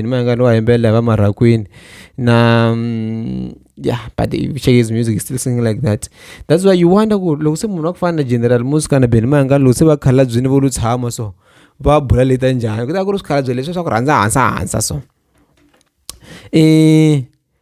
ni ma nga ni wa yimbelela va marhakwini na mm, yeah but shakes music is still singing like that that's why you wonder ku loko se munhu wa ku fana na general musica na beni mayanga loko se va khalabyini vo lu tshama so va bula leta njhani ku ta ku ri swikhalabye leswi swa ku rhandza hansa hansa so um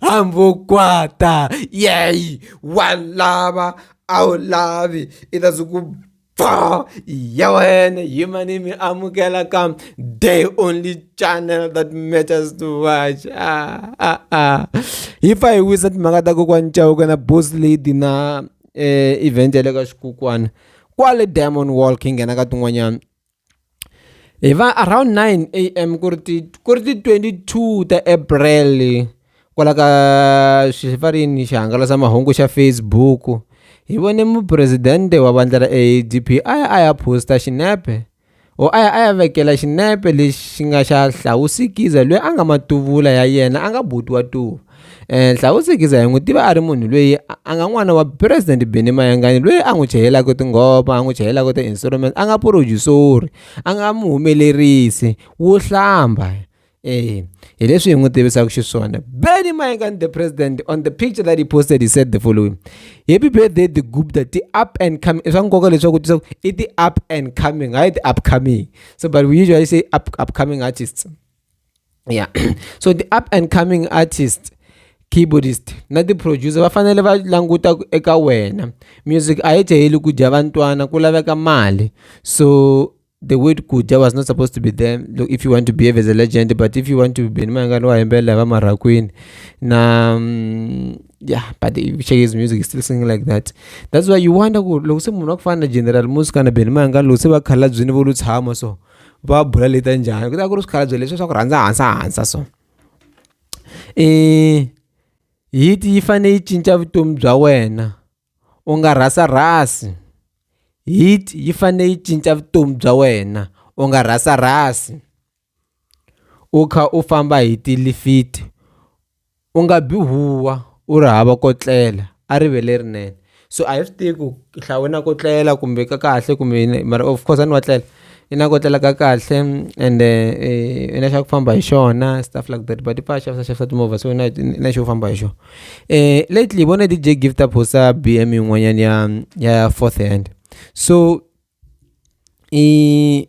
hambokwata yeyi wa lava a wu lavi i ta ku pfa ya wena hi mani mi amukela ka day only channel that matters to watch ah, ah, ah. hi fa hi wisa timhaka ta kokwani chauka na boss lady na eh, event ya le ka xikukwana kwale diamond wall khi nghena ka tin'wanyana hi va around nine A_M ku ri ti ku ri ti twenty two ta April kwala ka swi va rini xihangalasamahungu xa Facebook hi vone mupresidente wa vandla ra A_D_P a ya a ya post-a xinepe or a ya a ya vekela xinepe lexi nga xa Hlawusikiza loyi a nga matuvula ya yena a nga buti wa tuva. Eh, Nhlawusi Giza hi n'wi tiva a ri munhu loyi a- a nga n'wana wa President Benny Mayengani loyi a n'wi chayelaka tinghoma, a n'wi chayelaka ti-instruments, a nga purojusori, a nga muhumelerisi wo hlamba. Eh, hi leswi hi n'wi tivisaka xiswona. Benny Mayengani the president on the picture that he posted he said the following. Happy birthday the Gupta, ti up and coming. I swa nkoka leswaku u tisa ku i ti up and coming, hayi ti upcoming. So but we usually say up upcoming artists. ya so the up and coming artist keyboardist na ti-producer va fanele va languta eka wena music a yi jaheli ku dya vantwana ku laveka mali so the word kudya was not supposed to be there Look, if you want to behave as a legend but if you want to be nimangani wa hembela hi vamarakwini na mm, yeah but shakes music is still singing like that that's why you wonder ku loko se munhu wa ku fana na general musi kana benimangani loko se va khalabyini vo lu tshama so va bula leta njhani ku ta ku ri swikhalabye leswi swa ku rhandza hansa hansa so um hiti yi fanele yi cinca vutomi bya wena u nga rhasa rhasi heat yi fanele yi cinca vutomi bya wena u nga rhasa rhasi u kha u famba hi tilifiti. u nga bi huwa u ri hava ko tlela a rive lerinene so a hi swi tivi ku hlawu i na ko tlela kumbe ka kahle kumbe yini mara of course a ni wa tlela i na ko tlela ka kahle ende i na xa ku famba hi xona stuff like that but i pfala a xavisa xavisa timovha so i na i na xo famba hi xona lately hi vone D_J gift a post-a B_M yin'wanyana ya ya fourth hand so i.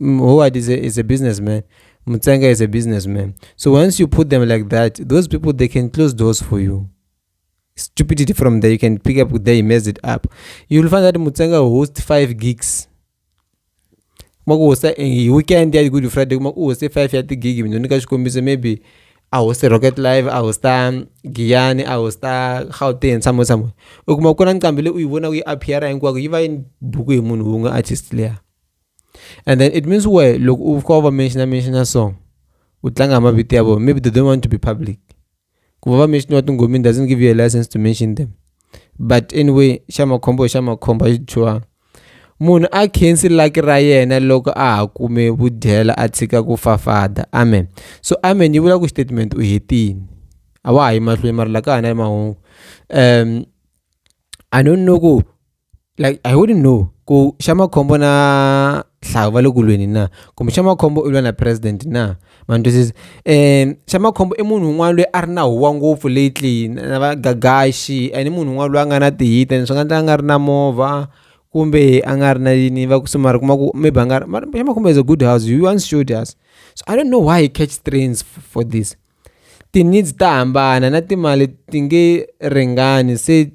Howard is a, is a businessman. Mutsenga is a businessman. So once you put them like that, those people they can close doors for you. Stupidity from there, you can pick up there, you mess it up. You'll find that Mutsenga hosts five gigs. makuhosta eh, weekend ya good friday kuma kuhoste five ya tigigi mina nyika xikombiso maybe a hoste rocket live a hosta giyani a hosta gauteng somewhere somewhere u kuma ku na nqambi leyi u yi vona ku yi appeara hinkwako yi va yi buku hi munhu wun'we artist leya And then it means where look u fika u va mention mention song u tlanga mavito ya vona maybe they don't want to be public ku va va mention wa tingomini doesn't give you a license to mention them but anyway xa makhombo xa makhombo xi dyiwanga munhu a khensi laki ra yena loko a ha kume vudyela a tshika ku fafada amen so amen yi vula ku statement u hetini a wa ha yi mahlweni mara la ka hana mahungu um i don't know ku like I wouldn't know ku xa makhombo na hlawu va le ku lweni na kumbe xa makhombo u lwa na president na ma ni twisisa um xa makhombo i munhu un'wana loyi a ri na huwa ngopfu lately na va gagaxi and i munhu un'wana loyi a nga na ti-hit-a ni swi nga endla a nga ri na movha kumbe a nga ri na yini va ku se mara u kuma ku maybe a nga ri mara xa makhombo is a good house he once showed us so I don't know why he catch strains for this ti-needs ta hambana na timali ti nge ringani se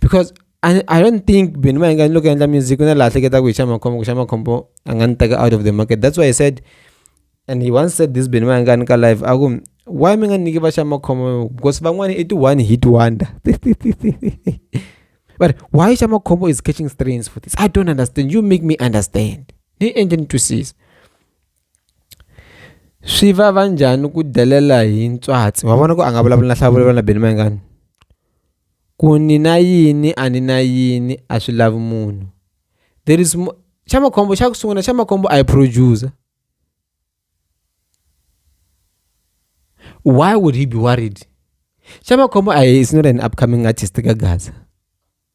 because I, I don't think Benoit va nga loko endla music ku na laha hleketa ku hi xa makhombo ku xa makhombo a nga ni teka out of the market that's why i said and he once said this Benoit va nga ni ka live a ku why mi nga nyiki va xa makhombo because van'wana i ti-one hit wonder but why xa makhombo is catching strains for this i don't understand you make me understand ni endle ni twisisa Swi vava njhani ku delela hi ntswatsi wa vona ku a nga vulavula na nhlavuko na Benny Mayengani ku ni na yini a ni na yini a swi lavi munhu there is more xa makhombo xa ku sungula xa makhombo I producer why would he be worried xa makhombo a hi is not an upcoming artist ka gaza.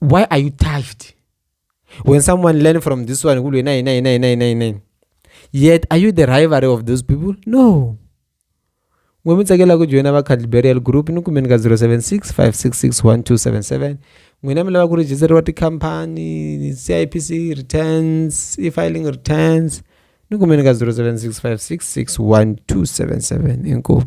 why are you tithed when someone learn from this one kulwe 99999 yet are you the rivalry of those people no n'we mi tsakela ku joyina va cadliberial group ni kumeni ka 076 566 1277 n'wina mi lava ku rejisteriwa tikhampani cipc returns e-filing returns ni kumeni ka 076 566 1277 inkomu